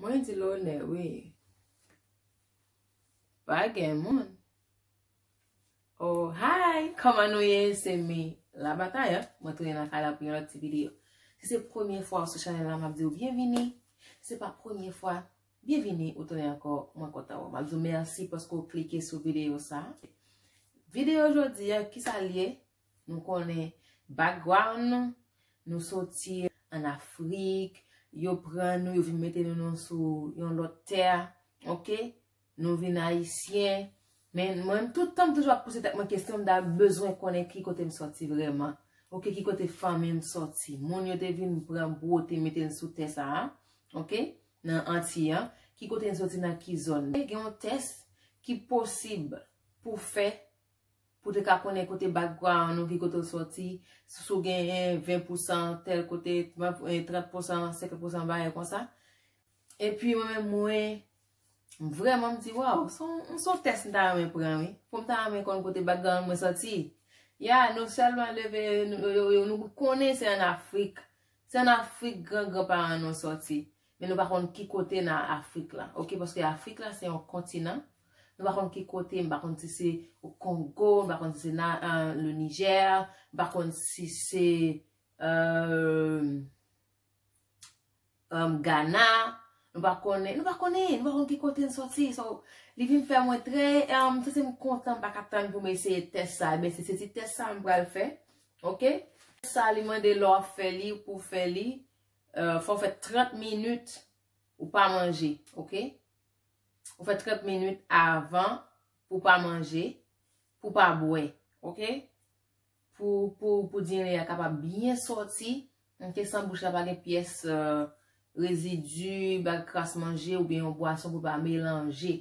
Mwen di lonè wi. Pa gen moun. Oh, hi! Kòman nou ye? Se mi la bataya. Mwen tounen nan kay la pou yon lòt ti videyo. Si se premye fwa ou sou chanèl la, m ap di ou byenvini. Si se pa premye fwa, byenvini ou tounen ankò. Mwen kontan wè w. M ap di w mèsi paske ou klike sou videyo sa. Videyo jodi a, ki sa l ye? Nou konnen background nou, nou soti an Afrik, yo pran nou, yo vin mete nou nan sou yon lòt tè, ok, nou vin Ayisyen, men mwen m tout tan m toujou ap pouse tèt mwen kesyon m ta bezwen konnen ki kote m soti vrèman, ok, ki kote fanmi m soti, moun yo te vin pran bwote mete n sou tè sa a, ok, nan Antiy an, ki kote n soti nan ki zòn. Gen yon tès ki posib pou fè. Pou te ka konnen kote background ou, ki kote ou soti, si w gen 20 pousan tèl kote, 30 pousan, 50 pousan bagay konsa. E pi mwen menm mwen, m vreman m di waw, m son tès m ta renmen pran wi, pou m ta renmen konn kote background mwen soti. Ya, nou sèlman leve, nou konnen se an Afrik, se an Afrik gran gran paran nou soti. Men nou pa konn ki kote nan Afrik la. Ok, paske Afrik la se yon kontinan. Nou pa konn ki kote, nou pa konn si se o Kongo, nou pa konn si se nan le Niger, nou pa konn si se euh, euh, Ghana, nou pa konn, nou pa konn, nou pa konn ki kote n soti. So, li vin fè mwen trè, euh, se se m kontan m pa ka tann pou m eseye tès sa. Ben, se se ti tès sa m pral fè. Ok? Sa li mande lò ap fè li, pou fè li. Fòw fè 30 minit ou pa manje ok ou fè 30 minit avan pou pa manje pou pa bwè ok pou diri ya kapab byen sòti ok san bouch la pa gen pyès rezidi bag kras manje oubyen yon bwason pou pa melanje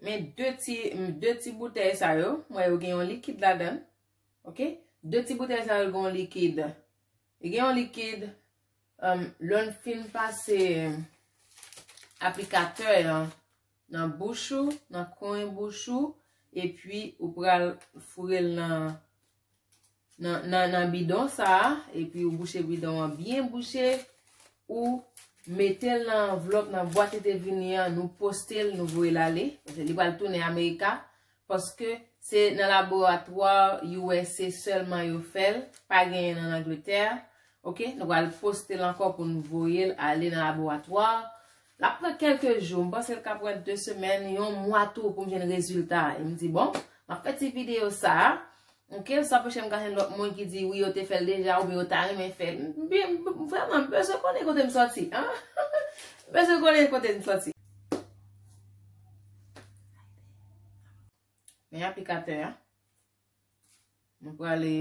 Men 2 ti boutèy sa yo, mwen yo gen yon likid la dan. Ok, 2 ti boutèy sa yo gen yon likid. Gen yon likid, lòn fin pase aplikatè yon. Nan bouch ou, nan kwen bouch ou, epi ou pral foure l nan nan bidon sa a, epi ou bouche bidon an byen bouche, ou mete l nan anvlòp nan bwat li te vini an, nou poste l, nou voye l ale, li pral tounen Amerika, Paske se nan laboratoire usa selman yo fel pa genyenl an Angleterre ok nou pral postel anko pou nou voyel ale nan laboratoire lap pran kelke jou m pansel ka pran 2 semen yon mwa tou poum jwenn rezilta em di bon map fe ti video sa Ok, sa pou chèm kajen lòt moun ki di wi yo te fèl deja ou bi yo ta renmen fèl. Bi, vreman, m bezwen konnen kote m soti. M bezwen konnen kote m soti. Men aplikatè a. M pou ale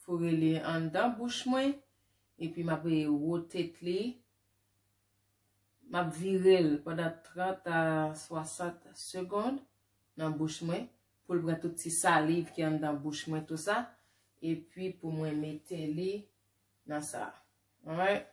foure li an dan bouch mwen. E pi m ap e wotet li. M ap vire l pandan 30 a 60 segond nan bouch mwen. Pou l pran tout ti saliv ki anndan bouch mwen tou sa. E pi pou mwen mete li nan sa. Alright.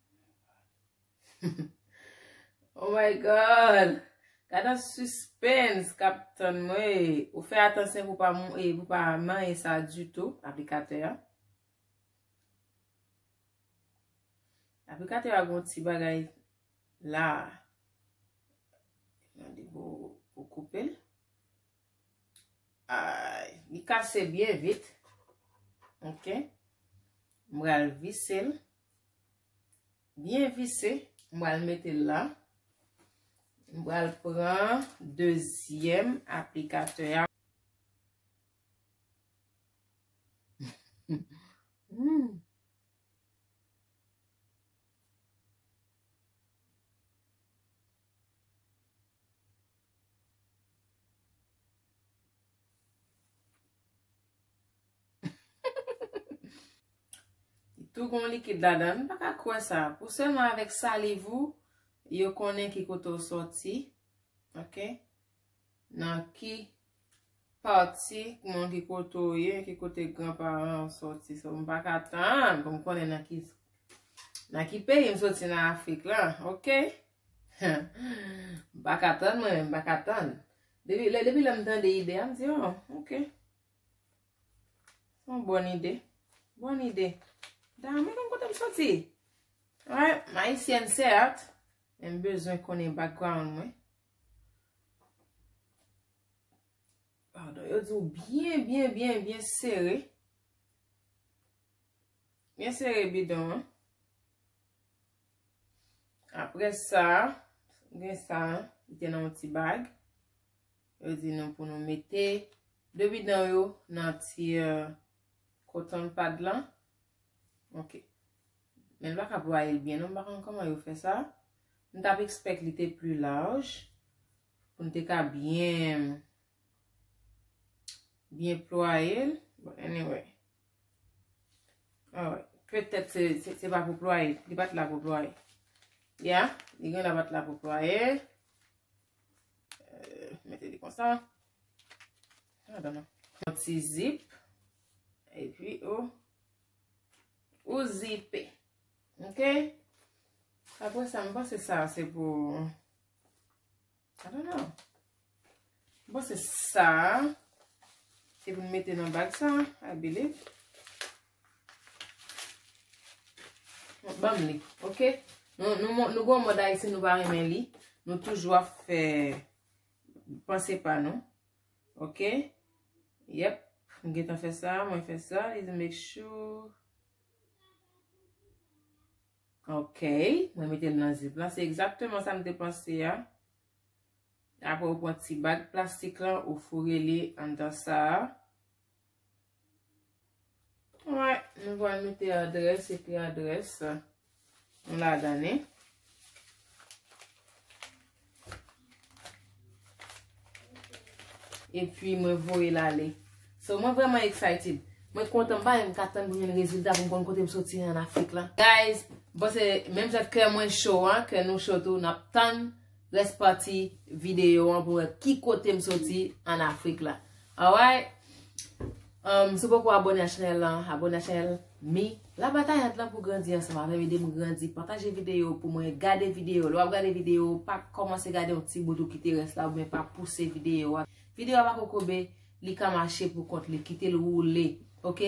Oh my God! Gad an suspens kap tann mwen. Ou fè atansyon pou pa mou e pou pa manyen sa dutou, aplikatè a. Aplikatè a gon ti bagay la. Nan di bo pou koupe l. Ay, li kase byen vit. Ok. Mwen al vise l. Byen vise, m pral mete l la. M pral pran dezyèm aplikatè a. Li tou gen yon likid ladan l. M pa ka kwè sa. Pou sèlman avèk saliv ou, yo konnen ki kote ou soti. Ok. Nan ki pati moun ki kote ou ye, ki kote gran paran ou soti. So m pa ka tann pou m konnen nan ki nan ki peyi m soti nan Afrik la. Ok. M pa ka tann mwen menm. M pa ka tann. Depi lè m tande ide a, m di, oh, ok. Son bon ide. Bon ide. Damn, mwen konn kote m soti. Alright, m ayisyèn sèt, men m bezwen konnen background mwen. Pardon, yo di ou byen, byen, byen, byen sere. Byen sere bidon an. Apre sa, gen sa, gen yon ti bag. Yo di nou pou nou mete 2 bidon yo nan ti cotton pad lan. Ok. Men pa ka ploye l byen non, m pa konn kòman yo fè sa. M tap ekspèk li te pli laj pou m te ka byen byen ploye l. Bon anyway. Alright. Petèt se pa pou ploye, li pat la pou ploye. Ya, li gen la pat la pou ploye. Euh, mete li konsa. Nan dan nan. Yon ti zip. E pi o. Ou zipe. Ok. Apre sa mwen se sa se pou. Nan dan nan. Mwen se sa. Se pou mwen mete nan bag sa. A bile. Banm li, ok? Nou gwo mòd ayiti nou pa renmen li. Nou toujou ap fè panse pa nou. Ok? Yep. M gen tan fè sa, mwen fè sa. Is a make sure. Ok. Mwen mete l nan zip la. Se ekzakteman sa m te panse a. Apre ou pon ti bag plastik la, ou foure li an dan sa a. Alright, nou pral mete adrès epi adrès nou ladan li. Epi mwen voye l ale. So mwen vreman excited. Mwen kontan pa yon katan pou mwen rezilta pou mwen konn kote m soti an Afrik la. Guys, bon se menm jan kè mwen cho an, kè nou cho tou nap tann. Rès pati videyo an pou wè ki kote m soti an Afrik la. Alright! Si w poko abone ak chanèl lan, abone ak chanèl mi. La batay ant lan pou grandi ansanm avè m, ede m grandi, pataje videyo pou mwen, gade videyo. Lè w ap gade videyo, pa kòmanse gade yon ti bout ou kite rès la oubyen pa pouse videyo a. Videyo a pa kokobe, li ka mache pou kont li, kite l woule. Ok!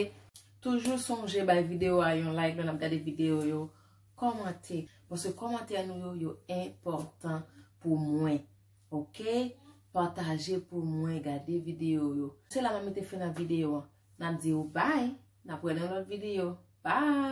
Toujou sonje bay videyo a yon like lè n ap gade videyo yo. Kòmante, paske kòmantè nou yo yo enpòtan pou mwen ok, pataje pou mwen, gade videyo yo. Se la mwen mete fen nan videyo an, nap di ou bye, nap wè nan lòt videyo, bye!